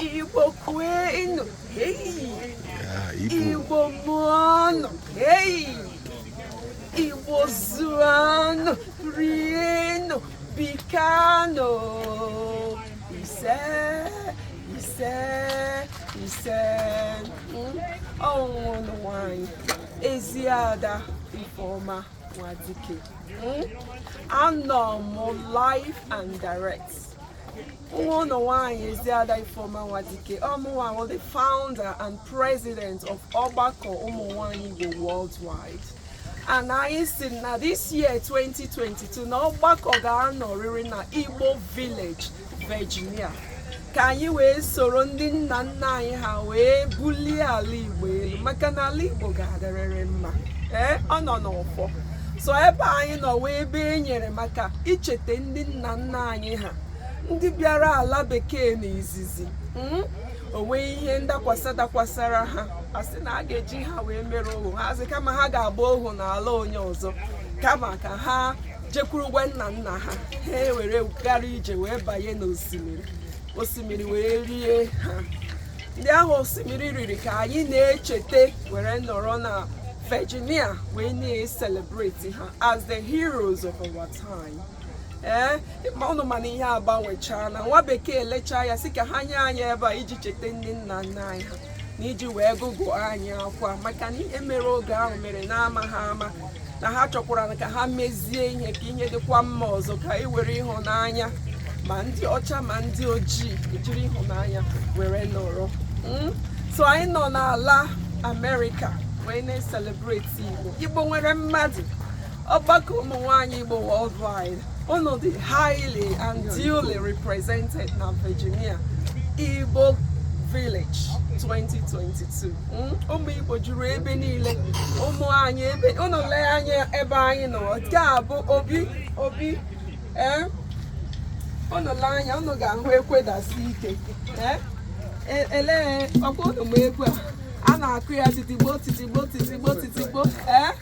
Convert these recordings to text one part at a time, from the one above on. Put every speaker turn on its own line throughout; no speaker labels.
Igbo kwenu Igbo mụọnụ Igbo zụọnụ rienụ bikanụ ise ise ise ọ wụ nwa unu nwanyị Eziada Ifeoma Nwadike anọ m live and direct nwa unu nwaanyị Eziada Ifeoma Nwadike ọ mụwa bụ the founder and president of ọgbakọ ụmụ nwaanyị Igbo worldwide and anyị sị na this year 2022 na ọgbakọ ga-anọrịrị na Igbo Village Virginia ka anyị wee soro ndị nna nna anyị ha wee bulie ala Igbo elu maka na ala Igbo ga-adịrịrị mma ee ọ nọ n'ọfọ so ebe anyị nọ wụ ebe e nyere maka ichete ndị nna nna anyị ha ndị bịara ala bekee na izizi hmm? o nwee ihe ndakwasa dakwasara ha a sị na a ga-eji ha wee mere ohu ha asị kama ha ga-agba ohu n'ala onye ọzọ kama ka ha jekwurukwa nna nna ha ha ewere gara ije wee banye n'osimiri osimiri wee rie ha ndị ahụ osimiri riri ka anyị na-echete were nọrọ na Virginia wee na-ecelebrate ha as the heroes of our time. ee ma unu ma na ihe agbanwechaa na nwa bekee lechaa ya sị ka ha nye anyị ebe a iji cheta ndị nna nna anyị ha na iji wee gụgụọ anyị akwa maka na ihe mere oge ahụ mere n'amaha ama na ha chọkwara ka ha mezie ihe ka ihe dịkwa mma ọzọ ka e were ịhụnanya ma ndị ọcha ma ndị ojii e jiri ịhụnanya were nọrọ hmm? so anyị nọ n'ala amerịka wee na-ecelebrate igbo igbo nwere mmadụ ọgbakọ ụmụ nwanyị Igbo worldwide unu dị highly and duly represented na Virginia Igbo Village 2022 hmm? ụmụ Igbo juru ebe niile ụmụ anyị ebe unu lee anya ebe anyị nọ nke a bụ obi obi ee eh? unu lee anya unu ga-ahụ ekwe dasi ike ee eh? e, elee ọ kwa unu ma ekwe a a na-akụ ya titigbo titigbo titigbo titigbo ee eh?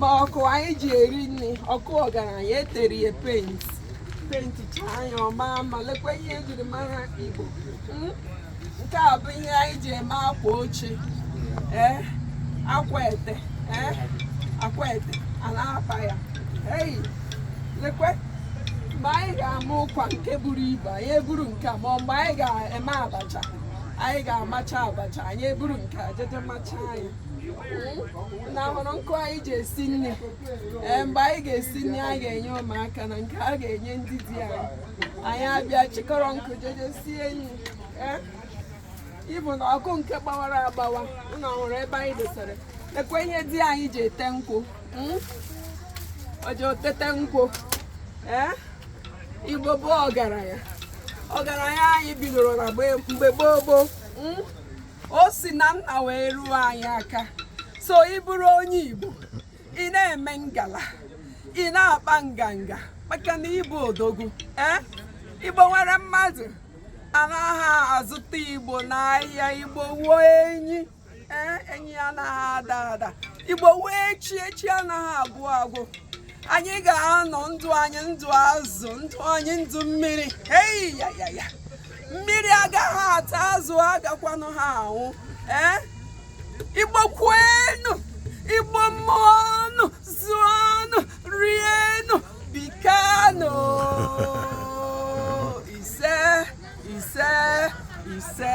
ma ọkụ anyị ji eri nri ọkụ ọgaranya e tere ya penti penti chaa anya ọma ma lekwa ihe e jiri mara igbo hmm? nke a bụ ihe anyị ji eme akwa oche ee eh? akwete ee eh? akwete a na-akpa ya eyi lekwe mgbe anyị ga-ama ụkwa nke buru ibu anyị eburu nke a ma mgbe anyị ga-eme abacha anyị ga-amacha abacha anyị eburu nke a jeje macha anyị na hụrụ nkụ anyị ji esi nri ee mgbe anyị ga-esi nri anyị ga-enye ụmụaka na nke a ga-enye ndị di anyị anyị abịa chịkọrọ nkụ jeje sie nri ee ịbụ na ọkụ nke gbawara agbawa ụnụ hụrụ ebe anyị dosara ekwe ihe di anyị ji ete nkwụ o ji etete nkwụ ee igbo bụ ọgaranya ọgaranya anyị bidoro na mgbe gboo gboo hmm? o si na nna wee ruo anyị aka so ị bụrụ onye igbo ị na-eme ngala ị na-akpa nganga maka na ị bụ odogwu ee eh? igbo nwere mmadụ anaghị azụta igbo n'ahịa igbo bụ enyi ee enyi anaghị ada ada igbo wụ echi echi anaghị agwụ agwụ anyị ga-anọ ndụ anyị ndụ azụ ndụ anyị ndụ mmiri eyi ya ya ya mmiri agaghị ata azụ agakwanụghị anwụ ee igbo kwenu igbo mụọnụ zụọnụ rienụ bikanụ ise ise ise